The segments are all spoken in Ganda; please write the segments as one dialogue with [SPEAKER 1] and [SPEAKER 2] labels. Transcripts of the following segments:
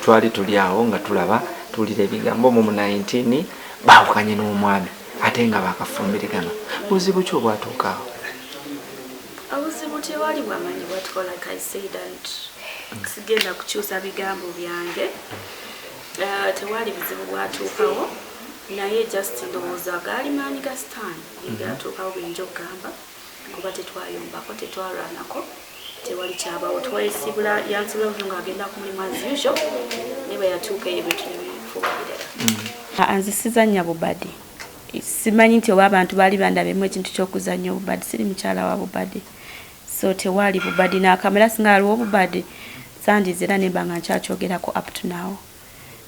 [SPEAKER 1] twali tuli awo nga tulaba tuwulira ebigambo mu 19 baawukanye n'omwami ate nga bakafumbirigana buzibu ki obwatuuka awo
[SPEAKER 2] obuzibu tewali bwamanyi bwatukola kaisaida nti sigenda kukyusa bigambo byange eh, tewali buzibu bwatuukawo naye just ndowooza gaali maanyi ga sitaani mhm. ebyatuukawo binja okugamba kuba tetwayombako tetwalwanako tewali kyabawo twayesibula yansibavu nga agenda ku mulimu as usual naye bweyatuuka eyo ebintu nebifuuka birala mm. anzisiza nya bubadi simanyi nti oba abantu baali bandabemu ekintu kyokuzanya obubadi siri mukyala wa bubadi so tewaali bubadi nakamera singa aliwo obubadi sandiza era nemba nga nkyakyogerako up to now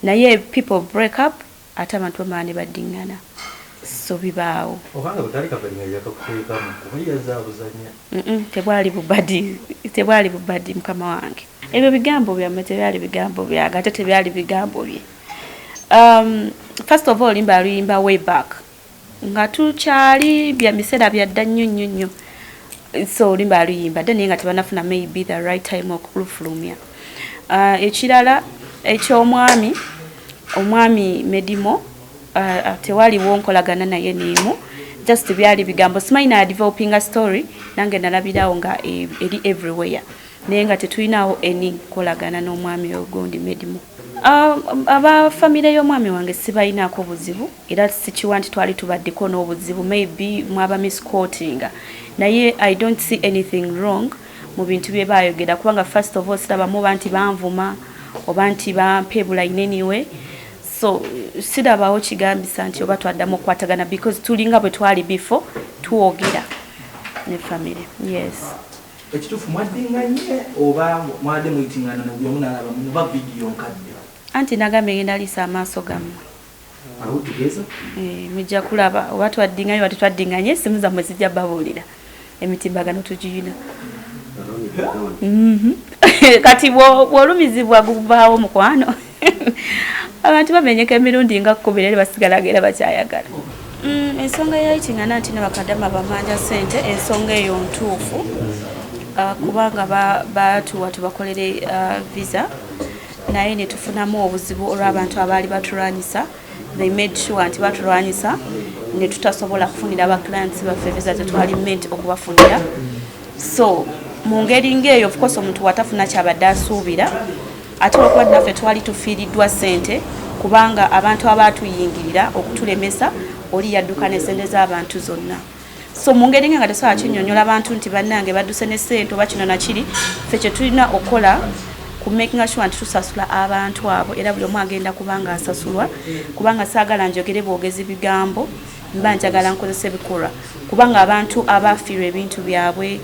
[SPEAKER 2] naye people break up Ate abantu bamala ne baddingana so bibaawo. Oba nga bwekaali kabadi nga yakakuteekamu kuba yazze abuzanya. Mm tebwali bubadi tebwali bubadi mukama wange ebyo bigambo byammwe tebyali bigambo byange ate tebyali bigambo bye um, first of all limba luyimba way back nga tukyali bya misera bya dda nnyo nnyo nnyo so olimba aluyimba dda naye nga tebanafuna maybe the right time okulufulumya uh, ekirala eky'omwami omwami medimo uh, uh, tewaliwo nkolagana naye neemu just byali bigambo simanyi na developinga story nange nalabirawo nga e, eri everywhere naye nga tetulinawo eni nkolagana n'omwami oyo gundi medimu ah, aba famire y'omwami wange sibalinaako buzibu era sikiwa nti twali tubaddeko n'obuzibu maybe mwaba miscotinga naye i don't see anything wrong mu bintu bye baayogera kubanga first of all sirabamu oba nti banvuma oba nti bampeebula ineniwe so sirabawo kigambisa nti oba twaddamu okukwatagana because tulinga bwe twali before twogera ne famire yes Ekitufu
[SPEAKER 3] mwaddinganye oba mwade muyitingana na gyomu nalaba muba video nkadde. Anti nagambye
[SPEAKER 2] ngenda lisa amaaso gammwe. Awo
[SPEAKER 3] tugeza? Eh, mujja
[SPEAKER 2] kulaba oba twaddinganye oba tetwaddinganye essimu zammwe zijja babuulira emitimbagano tugiyina. Mm-hmm. kati bwolumizibwa gubaawo mukwano abantu bamenyeka emirundi nga kkumi naye basigalaga era bakyayagala mm, ensonga yayitingana nti nebakadama bamanja sente ensonga eyo ntuufu uh, kubanga batuwa tubakolere uh, visa naye netufunamu obuzibu olw'abantu abaali batulwanyisa they made sure nti batulwanyisa netutasobola kufunira ba clients baffe visa tetwali ment okubafunira so mu ngeri ngaeyo ofcourse omuntu watafuna kyabadde asuubira Ate olwokuba naffe twali tufiiriddwa ssente kubanga abantu abaatuyingirira okutulemesa oli yadduka ne ssente z'abantu zonna so mu ngeri nga tesobola kinyonyola abantu nti bannange badduse ne ssente oba kino nakiri ffe kye tulina okukola ku makinga sure nti tusasula abantu abo era buli omu agenda kubanga asasulwa kubanga saagala njogere bwogezi bigambo mba njagala nkozesa ebikolwa kubanga abantu abaafiirwa ebintu byabwe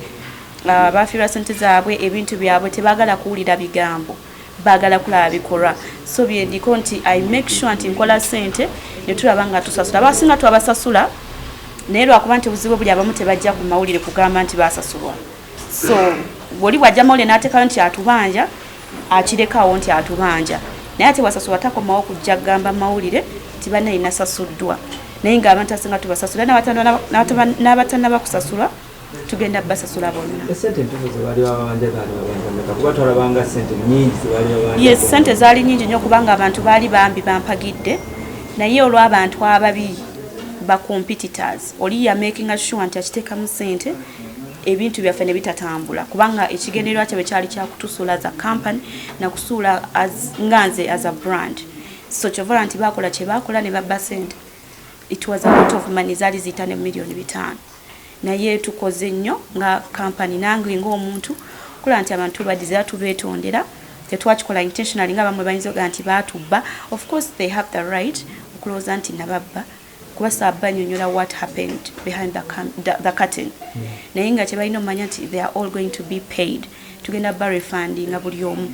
[SPEAKER 2] Uh, bafiirwa sente zaabwe ebintu byabwe tebagala kuwulira bigambo bagala kulaba bikolwa so byendiko nti i make sure nti nkola sente netulaba nga tusasula basinga twabasasula naye lwakuba nti obuzibu buli abamu tebajja ku mawulire kugamba nti basasulwa so bwoli bwajja mawulire natekayo nti atubanja akirekawo nti atubanja naye ate bwasasulwa takomawo kujja kugamba mawulire nti banayinasasuddwa naye nga abantu asinga tubasasula n'abatanabakusasulwa tugenda basasula bonna
[SPEAKER 3] yes sente zaali nyingi
[SPEAKER 2] nyo kubanga abantu baali bambi bampagidde naye olw'abantu ababi bacompetitors oli yamakinga sure nti akiteekamu sente ebintu byaffe ne bitatambula kubanga ekigendererwa kyabwe kyali kyakutusuula as a company nakusuula nga nze as a brand so kyovala nti bakola kyebakola ne babba sente it was a lot of money zaali ziyita ne millioni bitaano naye tukoze nnyo nga kampani nange ngaomuntu kula nti abantu tubadizira tubetondera tetwakikola intentionally nga bamwe bayinza oga nti batubba of course they have the right okulowooza nti nababba kuba saabba nyonyola what happened behind the, the, the curtain mm. naye nga kyebalina omumanya nti they are all going to be paid tugenda barefundinga buli omu